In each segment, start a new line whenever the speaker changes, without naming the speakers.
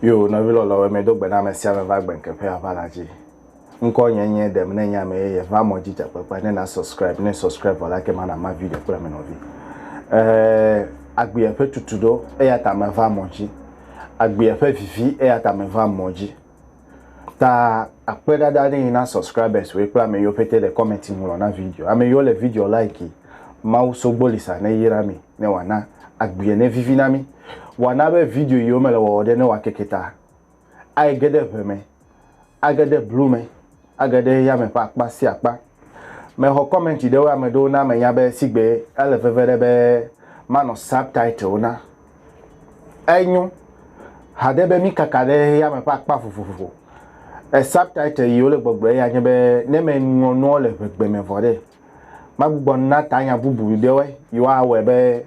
Yo, nɔvi lɔlɔwo, medo gbe na ame sia ame va gbenkeƒe ava la dzi. Ŋkɔ nye nye ɖem ne nye ame yeye va mɔ dzi dzakpekpe ne na subscribe ne subscribe vɔ la ke mana ma video kple ame nɔvi. Eh, agbea ƒe tutu ɖo eya ta me va mɔ dzi. Agbea ƒe vivi eya ta me va mɔ dzi. Ta akpe ɖaɖa ɖe yi na subscribers woe kple ame yiwo pete le comment ŋlɔ na video. Ame yiwo le video like. Mawu Sogbolisa ne yra mi ne wòana agbee ne vivi na mi. Wòana be video yiwo mele wɔwɔ ɖe ne wòakeke ta. Aege ɖe ʋe me. Age ɖe blu me. Age ɖe yame ƒe akpa sia akpa. Mexɔ kɔmɛnti ɖe wo ame ɖewo na menya be sigbe ele veve ɖe be manɔ subtitle na. Enyo haɖe be mikaka ɖe yame ƒe akpa vovovo. E subtitle yi wole gbɔgblɔ ya nye be ne meŋlɔ nuwo le ŋegbe me vɔ ɖe, magbugbɔ na tanya bubu ɖewoe yi woawɔe be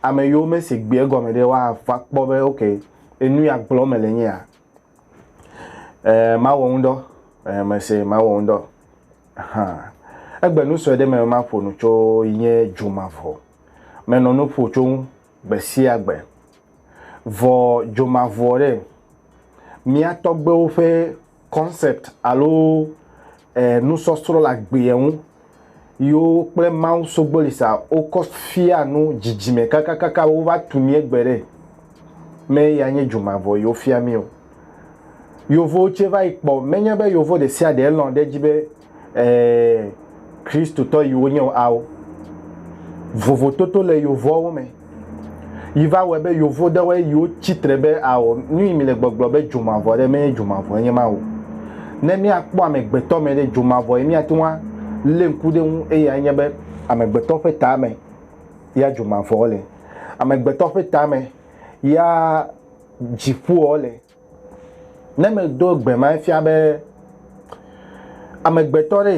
ame yiwo mese gbeɛ gɔme ɖe woava kpɔ be ok, enu ya gblɔm mele nye ya. Eh, mawɔ ŋudɔ. Eh, mese mawɔ ŋudɔ. Aha. Egbe nu sue ɖe me maƒo nu tso yi nye dzomavɔ. Menɔ nu ƒo tso ŋu gbe sia gbe. Vɔ dzomavɔ ɖe, mía tɔgbewo ƒe concept alo eh, nusɔsrɔ̃ le agbeɛ ŋu yewo kple Mawu sogboli sa wokɔ fia nu dzidzime kakakaka be wova tu mía gbe ɖe. Me ya nye dzu mavɔ yewo fia mí o. Yevowo tse va yi kpɔ, menye be yevo ɖe sia ɖe lɔ̃ ɖe edzi be ee Kristotɔ yi wonye o ao. Vovototo le yevoawo me. Yi va wɔe be yovo ɖewo yi wo tsitre be ao nu yi mi le gbɔgblɔ be dzomavɔ ɖe menye dzomavɔ enye ma o. Ne mia kpɔ amegbetɔ me ɖe dzomavɔ yi mia te ŋu a le ŋku ɖe ŋu eya enye be amegbetɔ ƒe ta me ya dzomavɔ le. Amegbetɔ ƒe ta me ya dziƒoɔ le. Ne medo gbe ma efia be amegbetɔ ɖe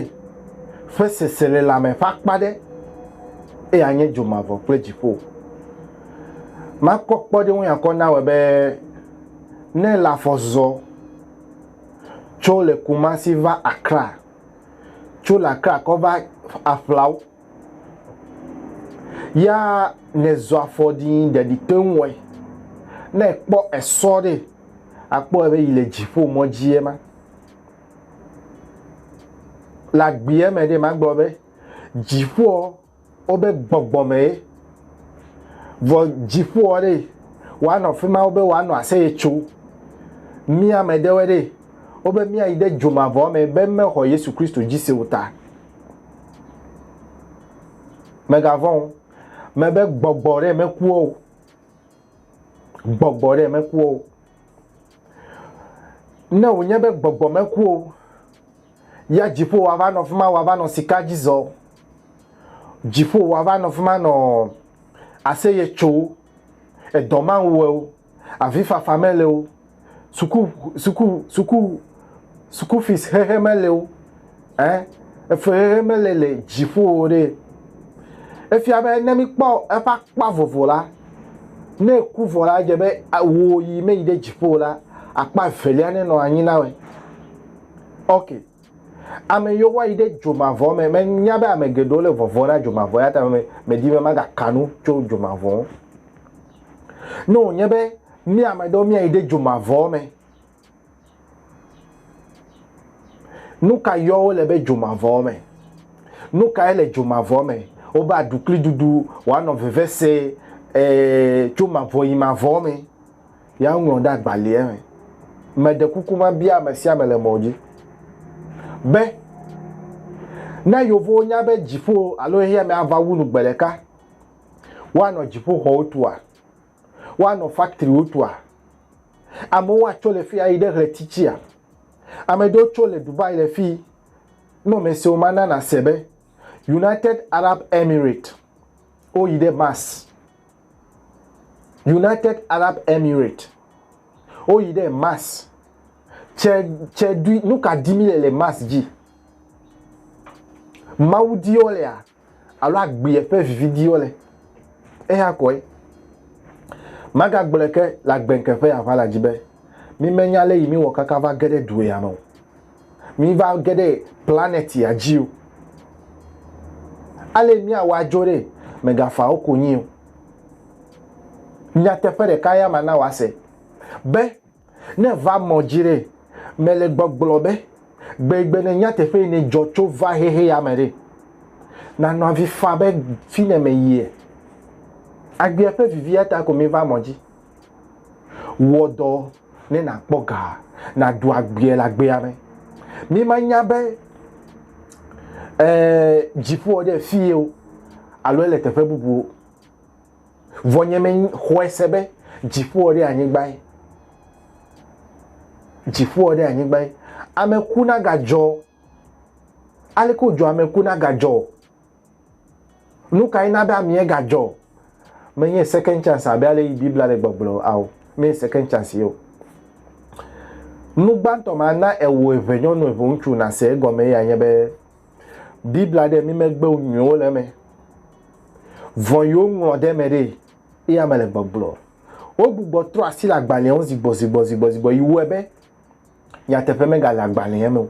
ƒe seselelãme ƒe akpa ɖe eye anye dzomavɔ kple dziƒo. Makpɔ kpɔɖeŋu ya kɔ nawɔe be ne ele afɔ zɔ tso le Kumasi va Accra, tso le Accra kɔ va aƒlawo Ya ne zɔ afɔ ɖi ɖe ɖi te ŋwɔe. Ne ekpɔ esɔ ɖe, akpɔ ebe yi le dziƒo mɔ dzi ema. Le agbea me ɖe magblɔ be dziƒoa wobe gbɔgbɔ me ye. Vɔ dziƒoa ɖe woanɔ fi ma wobe woanɔ aseye tso. Mía ame ɖewe ɖe wobe mía yi ɖe dzomavɔ me be mexɔ Yesu Kristo dzi se o ta. Mègavɔ̃ o, mebe gbɔgbɔ ɖe mekua o, gbɔgbɔ ɖe mekua o. Ne wònye be gbɔgbɔ meku o, ya dziƒo wòava nɔ fi ma wòava nɔ sika dzi zɔ, dziƒo wòava nɔ fi ma nɔ aseye tso, edɔ mawu wò o, avifafa mele wo, suku suku suku suku fees xexe mele wo, ẽ, efexexe mele le dziƒo o ɖe. Efia be ne míkpɔ eƒe akpa vovo la, ne eku vɔ la, edze be wò yi meyi ɖe dziƒo o la, akpa evelia nenɔ anyi na wòe. Ok. Ame yiwo woayi ɖe dzomavɔ me, menya be ame geɖewo le vɔvɔ̃ na dzomavɔ eya ta medi be magaka nu tso dzomavɔ ŋu. Ne wònye be mía ame aɖewo míayi ɖe dzomavɔwo me, nu ka yɔ wole be dzomavɔwo me? Nu kae le dzomavɔ me? Wobe aɖukliɖuɖu, wòanɔ vevesẽ, ee, tso mavɔ yi mavɔ me. Ya ŋlɔ ɖe agbalẽa me. Meɖe kuku mabia ame sia ame le mɔ dzi be ne yevowo nya be dziƒo alo xexea me ava wu nu gbe ɖeka, Woanɔ dziƒoxɔwo tua? Woanɔ faktriwo tua? Amewo atso le fii ayi ɖe ɣleti tsia? Ame ɖewo tso le Dubai le fii. Nɔmesiwo ma na nàse be United Arab Emirates woyi ɖe Mars. United Arab Emirates woyi ɖe Mars. Tse, tse ɖui, nu ka di mi le le Mars dzi? Mawu di wo lea? alo agbeɛ ƒe vividiwo le eya kɔe magagblɔe ke le agbɛnke ƒe aʋala dzi be mi menya lɛ yi mi wɔ kaka va ge ɖe du ya me o mi va ge ɖe planet ya dzi o ale mi awa dzo ɖe megafa wo konyi o nyateƒe ɖeka ya mana wa se be Ne va mɔ dzi ɖe, mele gbɔgblɔ be, gbegbe ne nyateƒe yi ne dzɔ tso va xexe ya me ɖe, nanɔ avi fa be fi ne me yie. Agbea ƒe vivi ya ta ko mi va mɔ dzi. Wɔ dɔ ne na kpɔ ga, na ɖu agbea le agbea me. Mi ma nya be, eh, dziƒoa ɖe fi ye o, alo ele teƒe bubu o. Vɔ nye me xɔe se be dziƒoa ɖe anyigbae. Dziƒoa ɖe anyigbae. Ame ku na gadzɔ. Ale ko dzɔ ame ku na gadzɔ. Nu ka ina be amea gadzɔ? Menye second chance abe ale yi Biblia le gbɔgblɔ ao. Menye second chance yeo. Nu gbãtɔ ma na ewo eve nyɔnu eve ŋutsu na se egɔme ya nye be Biblia ɖe mi megbe nyuiwo le eme. Vɔ yewo ŋlɔ ɖe eme ɖe eye ame le gbɔgblɔ. Wogbugbɔ trɔ asi le agbalẽa ŋu zigbɔ zigbɔ zigbɔ zigbɔ yi wɔe be nyateƒe megale agbalẽa me o.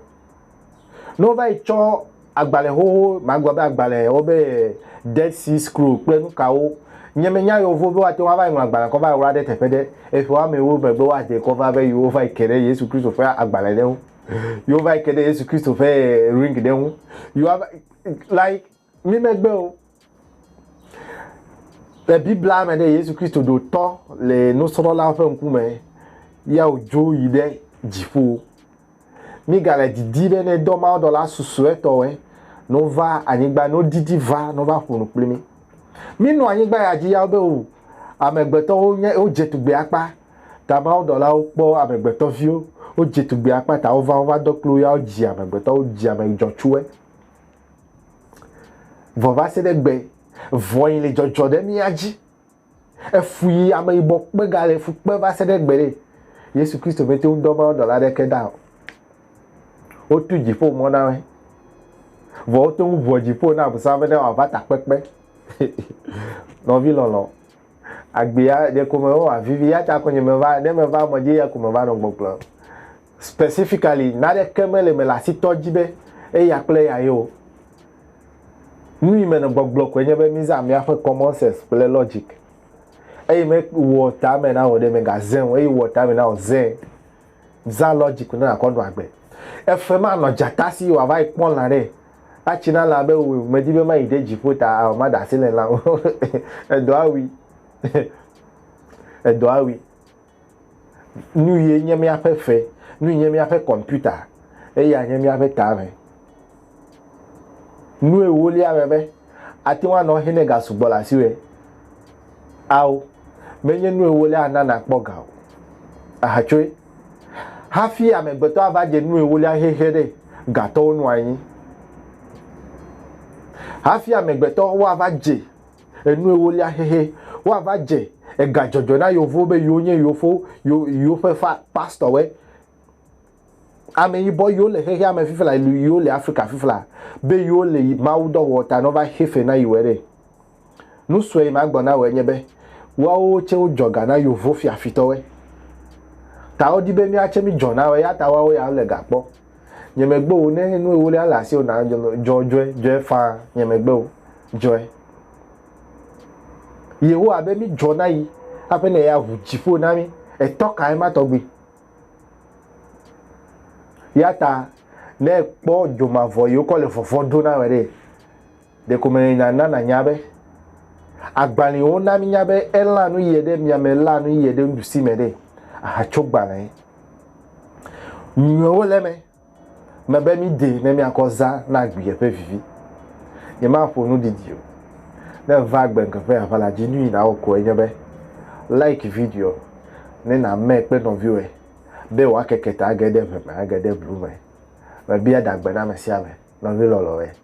Ne wova yi tsɔ agbalẽ xoxo, magblɔ be agbalẽ wo be Dead Sea Scroll kple nukawo nye me nya yewo vo be woate ŋu ava yi ŋlɔ agbalẽ kɔ va yi wla ɖe teƒe ɖe. Eƒe woame ewo megbe woade kɔ va be yewo va yi ke ɖe Yesu Kristo ƒe agbalẽ ɖe ŋu. yewo va yi ke ɖe yesu kristo ƒe eh, ring ɖe ŋu yewo va like mi megbe o le biblia me ɖe yesu kristo ɖo tɔ le nusrɔ̃lawo ƒe ŋkume ya wòdzo yi ɖe dziƒo migale didi be ne dɔ mawo dɔla susuetɔe no va anyigba no didi va no va ƒo nu kpli mi minɔ anyigba ya dzi ya be o amegbetɔwo nye wodze tugbe akpa Ta mawudɔlawo kpɔ amegbetɔviwo, wodzi tugbe akpa ta wova wova dɔ kpli wo ya wodzi amegbetɔ, wodzi ame dzɔtsuwe. Vɔ va se ɖe gbe vɔ yi le dzɔdzɔ ɖe mía dzi. Efu yi ame yibɔ kpe ga le fu kpe va se ɖe gbe ɖe. Yesu Kristo me te ŋu dɔ mawudɔla ɖeke da o. Wotu dziƒo mɔ na me. Vɔ wote ŋu ʋuɔ dziƒo na Abosam be ne wòava takpekpe. Nɔvi lɔlɔ. agbea ɖeko me wɔ vivi ya ta ko nye me va ne me va mɔ dzi ya ko me va nɔ gbɔgblɔ specifically nare ke me le me la si tɔ dzi be eya kple ya ye o nu yi me nɔ gbɔgblɔ ko nye be mi za mia ƒe common sense kple logic eye me wɔ ta me na wɔ ɖe me ga zɛn o eye wɔ ta me na wɔ zɛn Zã lɔ dzi ko ne nàkɔ nɔ agbe. Efe ma nɔ dzata si wòava yi kpɔ lã ɖe. Atsi na lã be wui. Medi be mayi ɖe dziƒo ta ao maɖe asi le lã ŋu. Edɔ awui. Edɔ awui. Nuyie nye míaƒe fe? Nui nye míaƒe kɔmpita? Eya nye míaƒe tame. Nu ewolia me be, ate ŋu anɔ hɛnɛ gasugbɔ le asiwòe? Ao, menye nu ewolia ana nàkpɔ ga o. Èhatsoe? Hafi amegbetɔ ava dze nu ewolia hehe ɖe, gatɔwo nɔa anyi. Hafi amegbetɔ woava dze enu ewolia hehe, woava dze egadzɔdzɔ na yewofowo be yewo nye yewofowo, yewo, yewoƒe fa, pastɔwoe. ame yibɔ yiwo le xexea me fifla yiwo le Afrika fifla be yiwo le Mawu dɔ wɔ ta no va xe fe na yiwɔe ɖe. Nu sue yi ma gbɔ na wɔ enye be woawo tse wo dzɔ ga na yovo fia fitɔwɔe. Ta wo di be mía tse mí dzɔ na wɔ eya ta woawo ya wo le ga kpɔ. Nye me gbe wo ne nu ewolia le asi o na dzɔ dzɔe dzɔe faa nye me gbe wo dzɔe. Yehowa be mí dzɔ na yi aƒe ne ya ʋu dziƒo na mí etɔ kae ma tɔgbi. Ya ta ne kpɔ dzomavɔ yi wokɔ le vɔvɔ ɖo na me ɖe, ɖeko mele nya na nanya be agbalẽwo na minya be elã nu yie ɖe mia me lã nu yie ɖe nuɖusi me ɖe ahatso gbalẽ nyuiwo le me. Mebe mídee ne míakɔ zã na agbiɛ ƒe vivi. Nyemaƒo nu didi o. Ne èva agbe ŋke ƒe aʋala dzi, nuyi nàwɔ koe nye be, like videoa ne nàmee kple nɔviwòe be wòakeke ta age ɖe ʋe me age ɖe blu me. Mebia ɖagbe na ame sia ame, nɔvi lɔlɔ̃e.